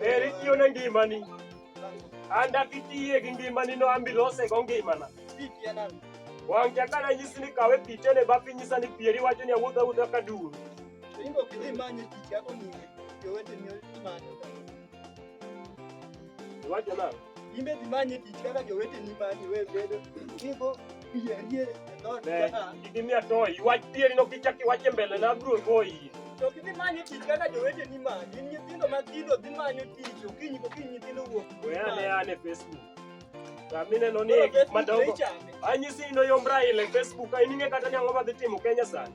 Eri tiyo ne ngimani. An dakitiye gi ngimani no ambi lose go ngimana. Wang' chaka na nyisi ni kawe picha ne bapi nyisa ni pieri wacho ni awuodha wuodha ka duro. Ingo kidhi manyo tich yako ni jowete ni manyo. Iwacho nang'o? In be dhi manye tich kaka joweteni manyi we bedo kigo pieri e dhoot Be, ka. kik imiya toy. Iwach pieri no kichak iwache mbele na abiro goyi. To gidhi manyo tich kaka joweteni manyi. In nyithindo matindo dhi manyo tich okinyi kokinyi nyithindo wuok. We ane ane Facebook. Amine no ni gik madongo. Ichame. Anyisi ni noyom Raila e Facebook. Ka in ing'e kata ni ang'o madhi timo Kenya sani.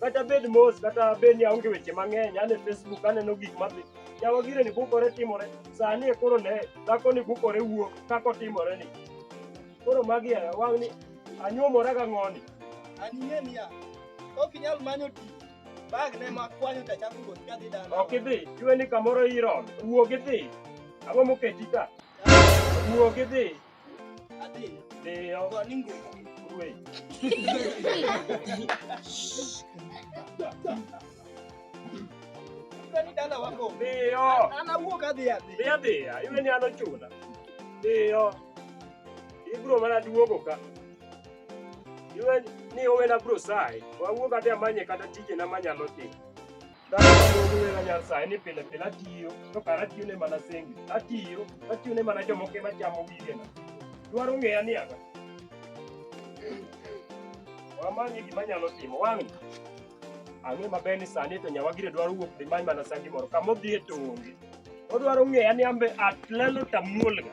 kata bed mos kata bed ni aonge weche mang'eny ane facebook aneno gik madhi yawa gire ni bukore timore sani e koro ne dhako ni bukore wuok kaka otimore ni koro magi e wang' ni anyuomora ga ng'oni Anie niya, ok inyal manyo tich. Bag ne ma kwanyo ta chako wuoth kadhi dala. ok idhi iwe ni kamoro iron wuog idhi ang'o moketi ka wuog idhi ibro mana duogo ka iwe ni owe na bro sai wawuog adhi amanye kata tije na manyalo timo Nyasaye ni pile pile atiyo to kara atiyo ne mana sengi atiyo atiyo ne mana jomoko ema chamo gigena dwaro ng'eya ni anga wamanye gima nyalo timo wang' ang'e maber ni sani to nyawagire dwaro wuok dhi many mana sangi moro kama odhi e to onge odwaro ng'eya ni ambe atlelo tamuolga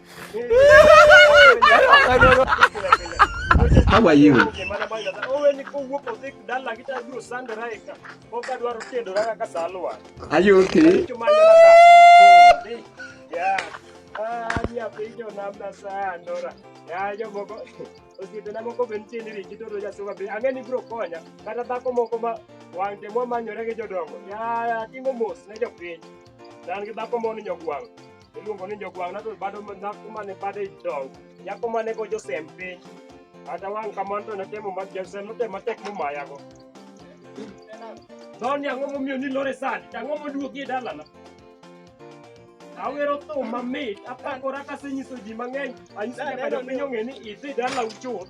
How are you? Are you okay? osiepena moko be nitie ni riki toto jasunga be ang'e ni biro konya kata dhako moko ma wang'te mwamanyore gi jodongo yaya timo mos ne jopiny dan gi dhako moni nyogwang' iluongo ni jogwang' na to bado dhako mane bade idong nyako mane go josem piny kata wang' kamano to natemo ma josem notemo matek momayago Doni ang'o momiyo ni lore sani to ang'o moduogi e dalana awero thum mamit apakora kasenyiso ji mang'eny anyiso nyaka jopiny ong'e ni idhi dala uchuth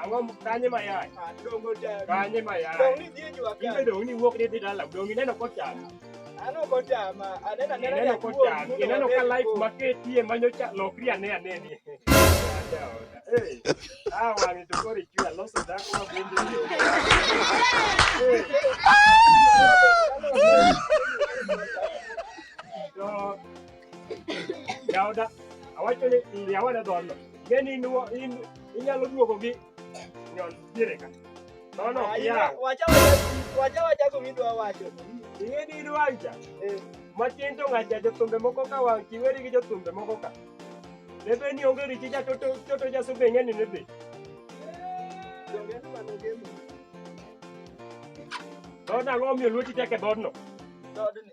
Ang'o kanye ma yach? Ah, dongo jari. Kanye ma yach? Dongo ni dhie jua ka. Ibe dongo ni wuok ni dhi dala, dongo ineno kocham. Ano kochama, anena nena ya kuo. Ineno ka life ma ketie manyo cha lokri ane ane ni. Hey, ah wangi to kori chua loso da kwa bindi. Hey. Jaoda, awacho ni ndia wada dhono. Geni in in inyalo duogo gi nyon dire ka. No no, ah, ya. Wacha wacha wacha ko midwa wacho. Ing'e ni idwa anja. Eh. Matin to ng'acha jothumbe moko ka wang' kiweri gi jothumbe moko ka. Lebe ni onge richi ja toto toto ja sube ng'eni ne be. Dona ng'o miyo luoti teke dhodno. Dhodni.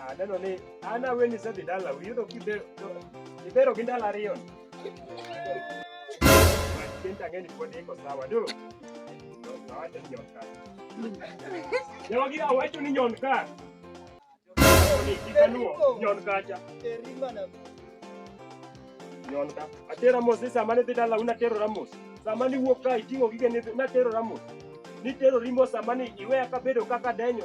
Ah, neno ni an aweni isedhi dala iyudo kibero gi ndalo ariyo kenti ang'e ni pod iko sawa do awacho ni nyon kar jogi awacho ni nyon kar ikaluwo nyon kacha nyon ka atero mos ni sama nidhi dala un atero ramos sama niwuok ka iting'o gige natero ramos nitero rimo sama ni iweya kabedo kaka denyo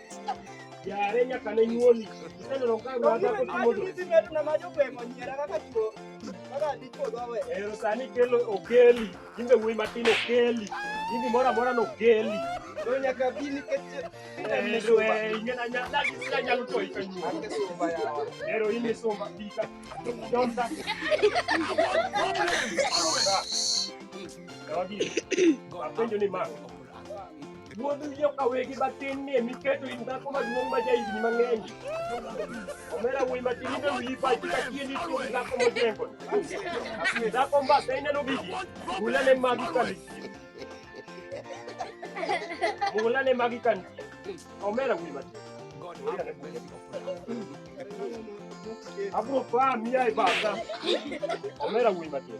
Yare nyaka ne nyuoli. Iseneno ka ng'ato dhako timo dwe. Sisi metu na majo kwe monyera kaka chuo. Kaka dichuo dwawe. Ero sani kelo okeli. Imbe wuoyi matin okeli. Imbe moro amora no okeli. To nyaka bi nikech nyalo toyi kanyuo. Ero in e sumba bika. Donda. Apenjo ni ma. Wuod wiyo ka wegi matin ni emi keto in dhako maduong' ma jahigni mang'eny. Omera wuoyi matin ibe wiyi pachi ka tieni tuo dhako mojengo. Dhako mbasa ineno bigi, hulane magi ka nitie. Hulane magi ka nitie. Omera wuoyi matin. Abro pa miya e basa. Omera wuoyi matin.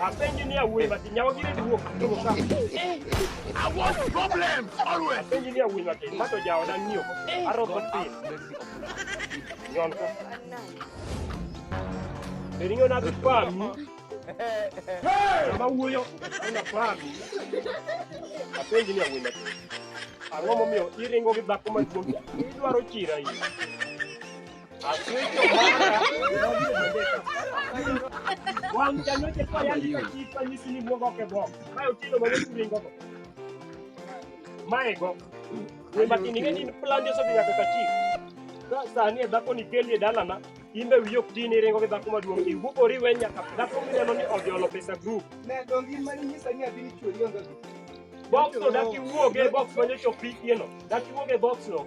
Apenji ni awuoyi matin, nyawa gire duok. I want problems always. Apenji ni awuoyi matin, mato jawa dan nyo. Aroko tin. Nyon ko. Beringo na bipami. Sama wuoyo na pami. Apenji ni awuoyi matin. Ang'o momiyo iringo gi dhako maduong' idwaro chira iyi. Maego. Ni makini ngeni plan yoso biya kaka chief. Sasa ni dhako ni kelie dalana imbe wiyo kutini ringo gi dhako maduong' iwu oriwe nyaka dhako mineno ni ojolo pesa group. Ne dongi mani nyisa ni abini chuo yonga. Box no daki wuoge box manyo chopi yeno. Daki wuoge box no.